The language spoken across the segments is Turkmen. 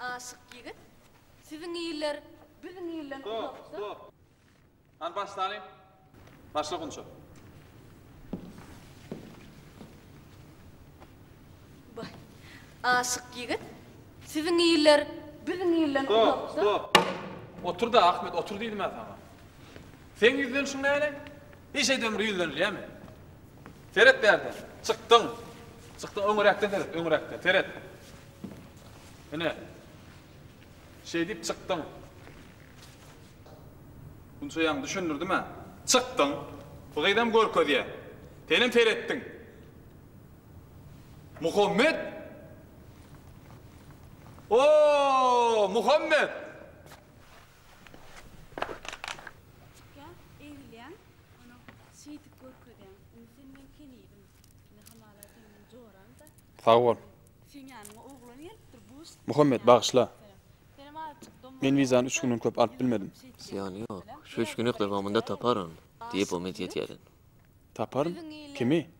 Aşyk ýigit, Siziň iller biziň ilden uzakda. Hany başlalyň. Başla Gunça. Baý. Aşyk ýigit, Siziň iller biziň ilden uzakda. Otur-da, Ahmet, otur diýdim-ä saňa. Seň ýüzlenişiň näle? Hiç edemde ýüzlenilýärmi? Seret bärde. Çykdyň. Çykdyň. Öňüräkden seret. Öňüräkden. Seret. Ine. Şeýdip çykdyň. Gunça ýaňy düşündirdim-ä. Çykdyň. Bu gyzam görkezýär. Senem seretdiň. Muhammet! O-o-o, Muhammet! Çykýan, eglýän, onuň şeýdip görkezýän. Indi sen meň kenidim. Indi hamala sen meň joramda. Sag bol. Seň ýanyňa oglan gelipdir, bus. Muhammet, bagyşla. Senem azajyk dom. Men wizany üç günden köp alyp bilmedim. Zyýany ýok. Şu üç günlük dowamynda taparyn, diýip umyt etýärin. Taparyn? Kimi?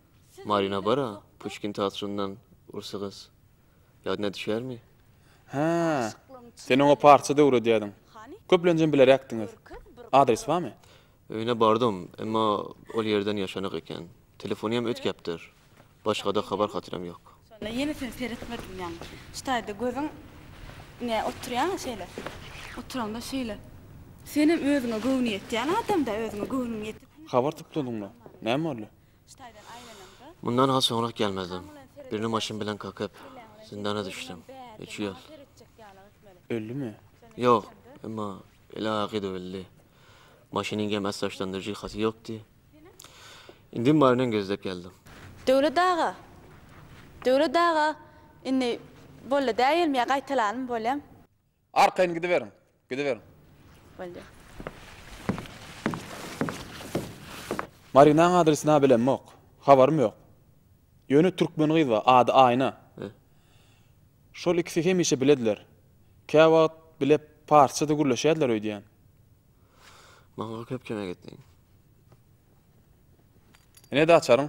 Marina bar-a, Puşkin teatryndan, rus gyz. Ýadyna düşýärmi? Hä. Sen oňa parsça döwredýärdiň. Köplenjem bileräkdiňiz. Adres barmy? Öýüne bardym, emma ol ýerden ýaşanyk eken. Telefony hem ötkäpdir. Başga-da habar-hatyram ýok. Şonda ýene sen seretmediň ýaňy. Şu taýda gözüň ne oturýaň şeýle. Oturaňda şeýle. Senem özüňe göwni ýetýän adam-da, özüňe göwnüň ýetik. Habar topladyňmy? Näme boldy? Mundan has soňrak gelmezdim. Birini maşyn bilen kakyp, zindana düşdüm. Üç ýyl. Öldümi? Ýok, emma el aýagy döwüldi. Maşynyň hem ässaçlandyryş jyhasy ýokdy. Indim baryny gözläp geldim. Döwlet aga! Döwlet aga! Indi boldy däýelmi ýa gaýtalanmy bolýam? Arkaýyn gidiberiň. Gidiberiň. Boldy. Marinaň adresini-ä bilemok. Habarym ýok. Ýöne türkmen gyz bar, ady Aýna. Şol ikisi hemişe bilediler. Käwagt bile parsça-da gürleşýärdiler öýdýän. Maňa köp kömek etdiň. Ine-de açaryň.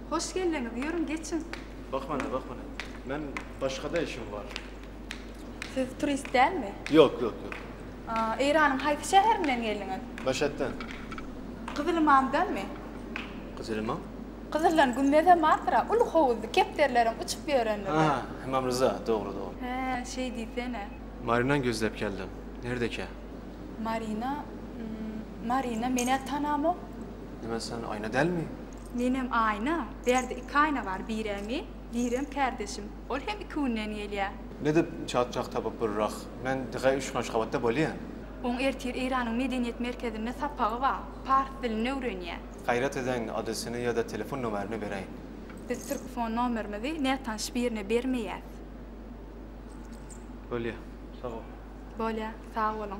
Hoş geldiňiz, ýörüň geçiň. Bahmana, bahmana. Men başga-da işim bar. Siz turist dälmi? Ýok, ýok, ýok. Eýranyň haýsy şäherinden geldiňiz? Meşetden. Gyzylymamdanmy? Gyzylymam? Gyzyldan gümmezem bardyr-a, uly howuzly, kepderileriň uçup ýörendigi. Hä, Ymam Ryza, dogry, dogry. Hä, şeý diýsene. Maryna gözläp geldim. Nirede ekä? Maryna? Maryna men-ä tanamok. Nime sen aýna dälmi? Nenem aýna, Bärde iki aýna bar, bire men, birem kärdeşim. Ol hem iki günden gelýär. Nädip çatjak tapyp bir rah. Men diňe üçgenç gabatda bolýan. Oň ertir Eýranyň medeniýet merkezinde sapagy bar. Pars dilini öwrenýär. Gaýrat ediň, adresini ýa-da telefon nomerini beräýiň. Biz türkfon nomerimizi nätanyş birine bermeýäs. Bolýar. Sag bol. Bolýar. Sag boluň.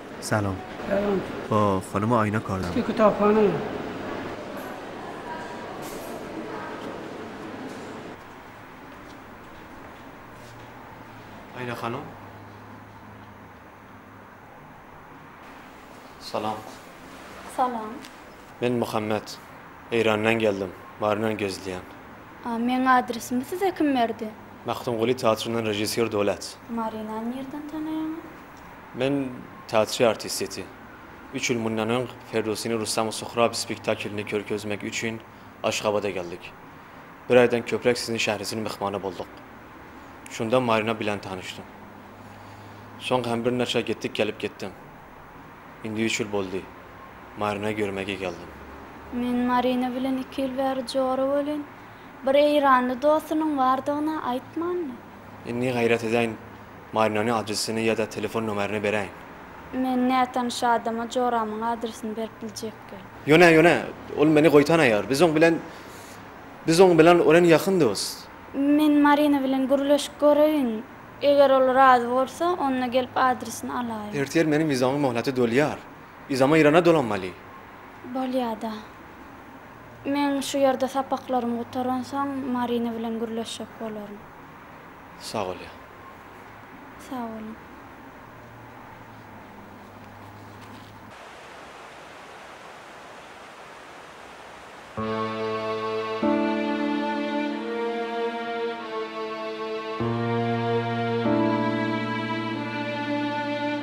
Salam. Salam. Oh, nime aýna kardam. Üstki kitaphana ýa. Aýna hanym. Salam. Salam. Men Muhammet. Eýrandan geldim. Maryna gezilýän. A, meň adresimi size kim berdi? Magtymguly teatryndan režissýor Dolat. Maryna nirden tanaýaňyz? Men teatri artisteti. Üç ýyl mundan öň Ferdowsini Russamy Suhrab spektaklini körkezmek üçin Aşgabada geldik. Bir aýdan köpräk siziň şährisin myhmany bolduk. Şunda Marina bilen tanyşdym. Soň hem birnaçar gitdik gelip gitdim. Indi üç ýyl boldy. Marinany görmegi geldim. Men Marina bilen iki ýyl bäri jora welin, bir eýranly dostunyň bardygyny aýtmandy. Indi gaýrat edäýin, Marinany adresini ýa-da telefon nomerini beräýiň. Men nätanyş adama joramyň adresini berip biljekgem. Ýöne, ýöne, ol meni goýtanaýar. Biz oň bilen, biz oň bilen örän ýakyn dost. Men Marina bilen gürleşip göreýin. Eger ol razy bolsa, onda gelip adresini alaýyn. Ertir meniň wizamyň möhleti dolýar. Yzama Irana dolanmaly. Bolýa-da. Men şu ýerde sapaklarym gutaransoň Marina bilen gürleşjek bolaryn. Sag bolýa. Sag boluň.